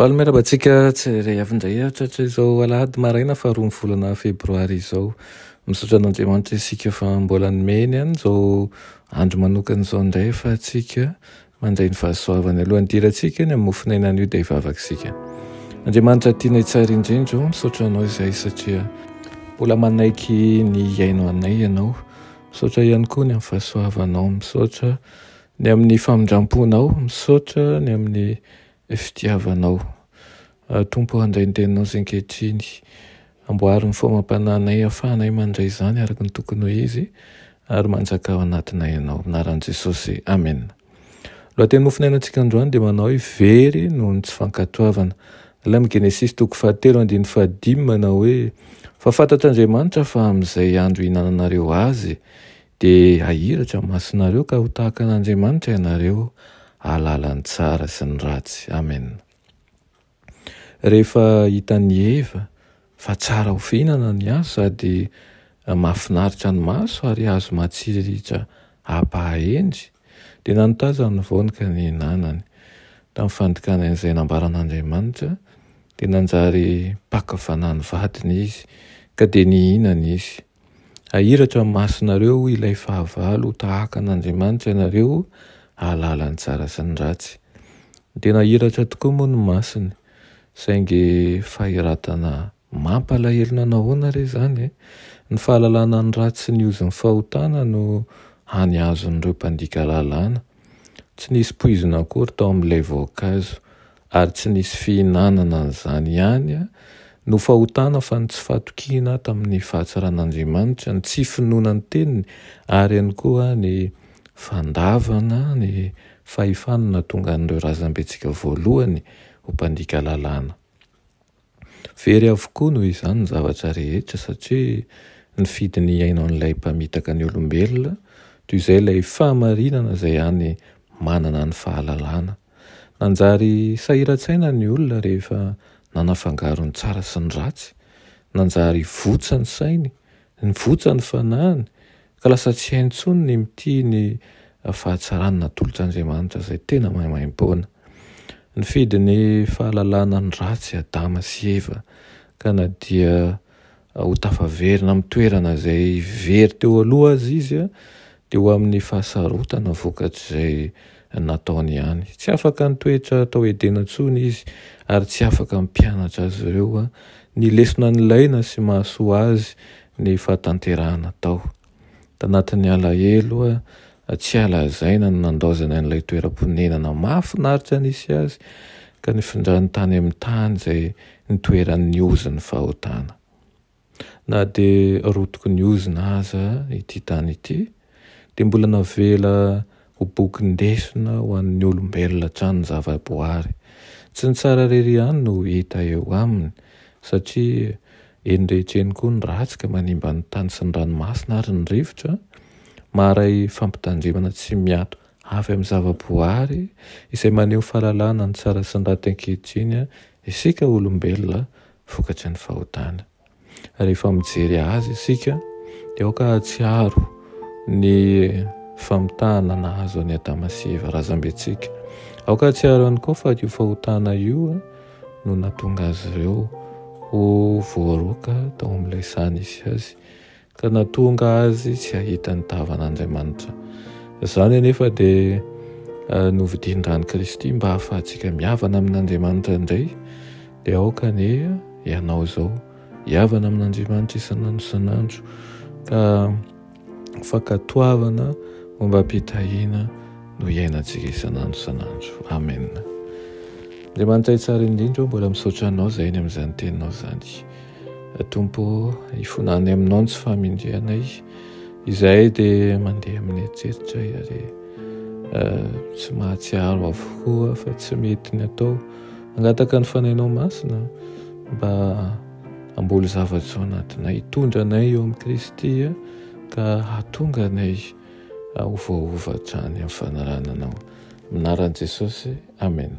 Faly miarahaba antsika tsy iray avy indray hatratra izao alahady maraina faharoa ny volana febroary izao. Misaotra an'Andriamanitra isika fa mbola nomeny an izao andro manokana izao indray fa antsika mandray ny fahasoavany aloha. Ny dirantsika ny amin'ny mofon'ainan'io dia hivavaka isika. Andriamanitra tianay tsara indrindra o, misaotra anao izay satria mbola manaiky ny hihaino anay ianao. Misaotra ihany koa ny amin'ny fahasoavanao. Misaotra. Ny amin'ny famindramponao, misaotra ny amin'ny fitiavanao. Tompo o handray ny teninao izay ankehitriny. Amboary ny famampananay afahanay mandray izany araka ny tokony ho izy ary manjaka ao anatinay Ianao. Amin'ny anaran'i Jesosy. Amen. Lohateny nofonainantsika androany dia manao hoe very noho ny tsy fankatoavana. Ilay amin'ny Genesisy toko fahatelo andininy fahadimy manao hoe, Fa fantatr'Andriamanitra fa amin'izay andro ihinananareo azy, Dia hahiratra ny masonareo ka ho tahaka an' Andriamanitra ianareo hahalala ny tsara sy ny ratsy. Amen. Rehefa hitan' i Eva fa tsara ho fihinana ny hazo sady mahafinaritra ny maso ary hazo matsiritra hampahahendry, dia nanotazany ny voany ka nihinanany. Tamin'ny fandikany an' izay nambaran' Andriamanitra dia nanjary mpaka fanahy ny vadiny izy ka dia nihinana izy. Hahiratra ny masonareo ilay fahavalo ho tahaka an'Andriamanitra ianareo hahalala ny tsara sy ny ratsy. Ny tena hahiratra tokoa moa ny masony. Saingy fahiratana mampalahelo na nahoana ary izany e! Ny fahalalana ny ratsy sy ny ozin'ny fahotana no hany azon'ireo mpandika lalàna. Tsy nisy poizina akory tao amin'ilay voankazo. ary tsy nisy fihinanana an'izany ihany no fahotana fa ny tsy fahatokiana tamin'ny fahatsaran'Andriamanitra, ny tsy finoana ny teniny ary ihany koa ny fandavana ny fahefany nahatonga an'ireo razambentsika voalohany ho mpandika lalàna. Very avokoa noho izany ny zavatra rehetra satria nifidy ny hiaino an'ilay mpamitaka ny olombelona toy izay ilay fahamarinana izay hany manana ny fahalalana. Nanjary sahiran-tsaina ny olona rehefa nanafangaro ny tsara sy ny ratsy, nanjary votsa ny sainy, votsa ny fanahiny, Ka lasa tsy hay intsony ny mitia ny fahatsarana natolotr'Andriamanitra izay tena maimaimpoana. Nifidy ny fahalalana ny ratsy Adama sy Eva ka na dia ho tafaverina amin'ny toerana izay very teo aloha aza izy dia ho amin'ny fahasarotana vokatr'izay nataony ihany. Tsy afaka nitoetra tao Edena intsony izy, ary tsy afaka hampianatra azy ireo ny lesona nilaina sy mahasoa azy ny fahatanterahana tao. Tanatin'ny alahelo tsy halazaina no nandaozany an'ilay toeram-ponenana mahafinaritra nisy azy, ka nifindrany tany amin'ny tany izay nitoeran'ny ozon'ny fahotana. Na dia rotiky ny ozona aza ity tany ity, dia mbola navela ho bokin-desona ho an'ny olombelona hatrany ny zavaboary. Tsy ny tsara irery ihany no hita eo aminy, satria eny rehetra eny koa ny ratsy ka manimba ny tany sy ny ranomasina ary ny rivotra. Maharay fampitandremana tsy miato avy amin'ny zavaboary izay maneho fahalalana ny tsara sy ny raty ankehitriny isika olombelona vokatry ny fahotana. Rehefa mijery azy isika dia aoka hahatsiaro ny famitahana nahazo an'i Adama sy Eva razambentsika. Aoka hahatsiaro ihany koa fa io fahotana io no nahatonga azy ireo ho voaroaka tao amin'ilay saha nisy azy. ka nahatonga azy tsy hahita ny tavan'Andriamanitra. Izany anefa dia eh, novidian-dran'i Kristy mba hahafahantsika mihavana amin'Andriamanitra indray, dia aoka anie ianao izao hihavana amin'Andriamanitra isan'andro isan'andro ka fankatoavana momba am-pitahiana no iainantsika isan'andro isan'andro. Amen. Andriamanitra itsara indrindra, mbola misaotra anao izay ny amin'izany teninao izany. Ry Tompo ô, hifona any Aminao ny tsy fahamendrehanay. Izahay dia mandeha amin'ny eritreritra ary tsy mahatsiaro avokoa fa tsy mety ny atao. Mangataka ny Fanahinao Masina mba hamboly zavatra ao anatinay, hitondra anay eo amin'i Kristy ka hahatonga anay ho voaova hatrany amin'ny fanarahana Anao. Minaran'i Jesosy, Amen.